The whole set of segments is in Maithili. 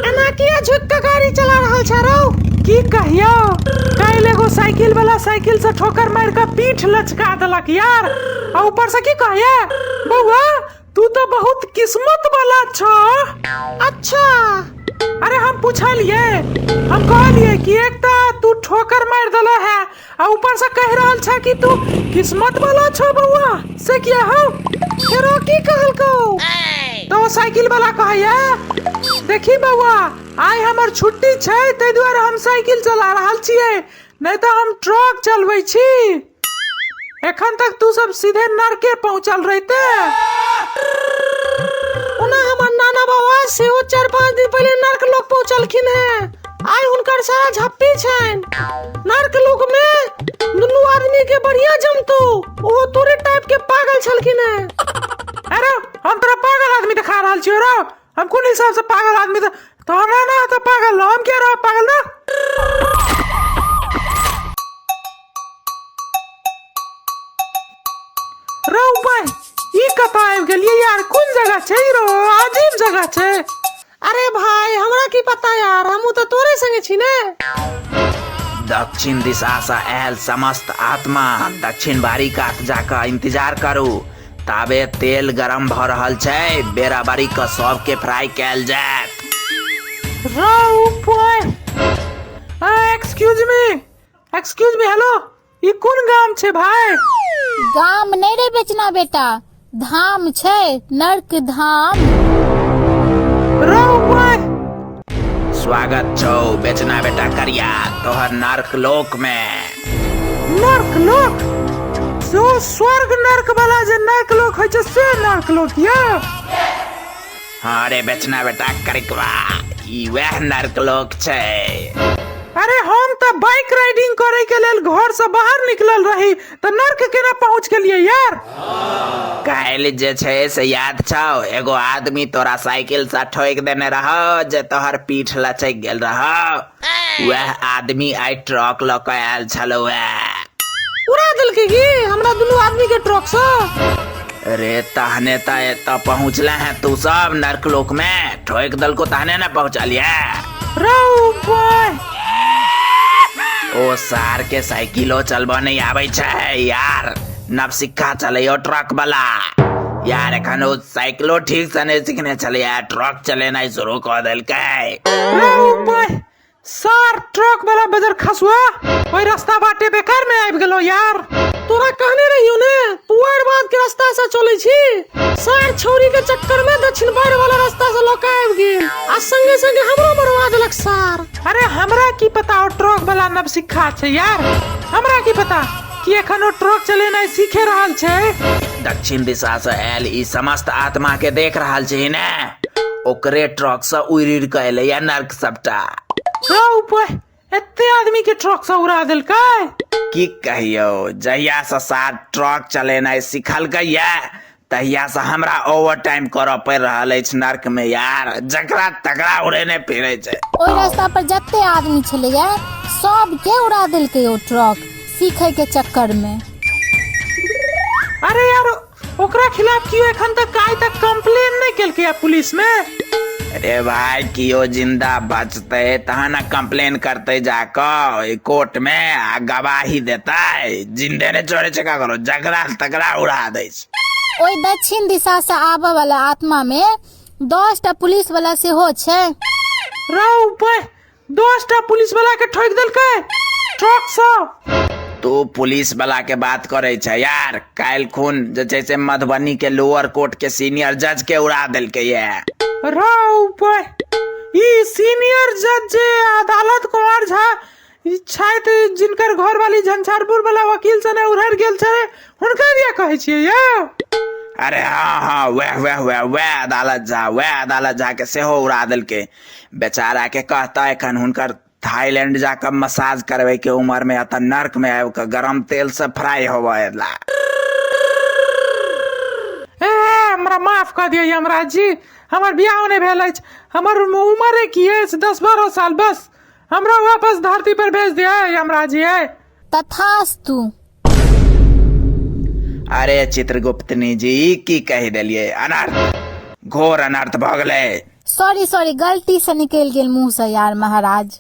एना किया झुक के गाड़ी चला रहल छ रौ की कहियो काल्हि एगो साइकिल वाला साइकिल से ठोकर मार के पीठ लचका देलक यार आ ऊपर से की कहिए बउआ तू तो बहुत किस्मत वाला छ अच्छा अरे हम पूछलिए हम कहलिए कि एक तो तू ठोकर मार देले है आ ऊपर से कह रहल छे कि तू किस्मत वाला छो बउआ से किया हो फेरो की कहलको तो साइकिल वाला कहैया देखी बउआ आइ हमर छुट्टी छै ताहि दुआरे हम साइकिल चला रहल छियै नहि तऽ हम ट्रक चलबै छी एखन तक तू सब सीधे नरके पहुंचल रहिते ओना हमर नाना बाबा सेहो चारि पाँच दिन पहिले नर्क लोक पहुँचलखिन हेँ आइ हुनकर सारा झप्पी छन नर्क लोक मे दुनू आदमी के बढ़िया जमतो ओहो तोरे टाइप के पागल छलखिन है अरे हम तोरा पागल आदमी दिखा रहल छियो रो हम कोन हिसाब से पागल आदमी त तोरा ना त पागल हम के रहो पागल ना रो भाई ई कतऽ आबि गेलियै यार कोन जगह छै ई रो अजीब जगह छै अरे भाई हमरा की पता यार हमू तो तोरे संगे छी ने दक्षिण दिशा से आयल समस्त आत्मा दक्षिण बारी कात जाकर इंतजार करू ताबे तेल गरम भ रहल छै बेरा बारी के सबके फ्राई कैल जायत excuse me excuse me hello ई कोन गाम छै भाय गाम नहि रे बेचना बेटा धाम छै नर्क धाम रौ भाय स्वागत छौ बेचना बेटा करिया तोहर नर्क लोक मे नर्क लोक जो स्वर्ग नर्क वाला जे नर्क लोक होइ छै से नर्क लोक यऽ हाँ रे बेचना बेटा करिकवा ई वह नर्क लोक छै अरे हम तऽ बाइक राइडिंग करे के लेल घर से बाहर निकलल रही तऽ नर्क केना पहुंच गेलिए यार काल्हि जे छै से याद छौ एगो आदमी तोरा साइकिल से ठोक देने रहो जे तोहर पीठ लचक गेल रहो वएह आदमी आई ट्रक ल के आयल छलो उड़ा देलकै की हमरा दुनू आदमी के ट्रक से अरे तहने त एत पहुँचले है तू सब नर्क लोक में ठोक दल को तहने न पहुँचलिए ओ सार के साइकिलो चलबो नहीं आबै छै यार नवसिक्का चलैयो ट्रक वाला यार एखन ओ साइकिलो ठीक से नहि सीखने छलियै ट्रक चलेनाइ शुरू कऽ देलकै सर ट्रक वाला बजर खसुआ ओहि रास्ता बाटे बेकार में आबि गेलो यार तोरा कहने रहियो ने पुआर बाद के रास्ता से चले छी सर छौरी के चक्कर में दक्षिण बार वाला रास्ता से लोका आबि गेल आ संगे संगे हमरो मरवा देलक सर अरे हमरा की पता ओ ट्रक वाला नवसिखा छै यार हमरा की पता की एखन ओ ट्रक चलेनाइ सीखे रहल छै दक्षिण दिशा से आयल ई समस्त आत्मा के देख रहल छी ने ओकरे ट्रक से उड़ि उड़ि के एलैया नर्क सबटा रौ ऊपर एते आदमी के ट्रक से उड़ा देलकै की कहियो जहिया से साथ ट्रक चलेनाइ सिखलकै या तहिया से हमरा ओवर टाइम करऽ पड़ि रहल अछि नर्क में यार जकरा तकरा उड़ेने फिरे छै ओहि रास्ता पर जते आदमी छलैया सबके उड़ा देलकै ओ ट्रक सीखै के चक्कर में अरे यार ओकरा खिलाफ क्यों एखन तक आइ तक कंप्लेन नहीं केलकै है पुलिस में अरे भाई कियो जिंदा बचते तहन न कंप्लेन करते जाकऽ ओहि कोर्ट में आ गवाही देते जिंदे ने छोड़े छै ककरो जकरा तकरा उड़ा दै छै ओहि दक्षिण दिशा से आबय वाला आत्मा में दस टा पुलिस वाला सेहो छै राव ऊपर दस टा पुलिस वाला के ठोक देलकै ट्रक से तू पुलिस वाला के बात करे छै यार काल्हि खून जे छै से मधुबनी के लोअर कोर्ट के सीनियर जज के उड़ा देलकै ये राव ऊपर ई सीनियर जज जे अदालत कुमार झा ई छथि जिनकर घरवाली झंझारपुर वाला वकील सने उड़हर गेल छलै हुनका दिया कहै छियै यौ अरे हाँ हाँ वैह वैह वैह वैह अदालत झा वैह अदालत झा के सेहो उड़ा देलकै बेचारा के कहता एखन हुनकर थाईलैंड जाकर मसाज करबे के उम्र में अतः नर्क में आबि के गरम तेल से फ्राई होवे ला ए हमरा माफ कऽ दिअ यमराज जी हमर बियाह नहि भेल अछि हमर उमरे की अछि दस बारह साल बस हमरा वापस धरती पर भेज दिया यमराज जी तथास्तु अरे चित्रगुप्त ने जी की कह दिलिए अनर्थ घोर अनर्थ भगले सॉरी सॉरी गलती से निकल गेल मुंह से यार महाराज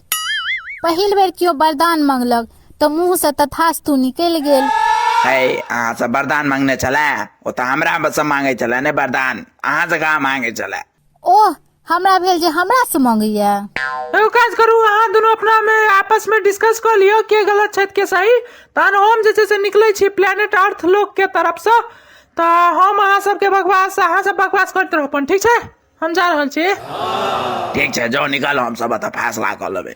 पहिल बेर कियो वरदान मंगलक तो मुंह से तथास्तु निकल गेल है अहाँ से वरदान मांगने चला ओ तो हमरा से मांगे चला ने वरदान अहाँ से कहा मांगे चला ओह हमरा भेल जे हमरा से मंगैया एगो काज करू अहाँ दुनू अपना मे आपस में डिस्कस कऽ लियौ के गलत छथि के सही तहन हम जे छै से निकलै छी प्लेनेट अर्थ लोक के तरफ से तऽ हम अहाँ सबके बकवास अहाँ सब बकवास करैत रहू अपन ठीक छै हम जा रहल छी ठीक छै जाओ निकालो हम सब एतऽ फैसला कऽ लेबै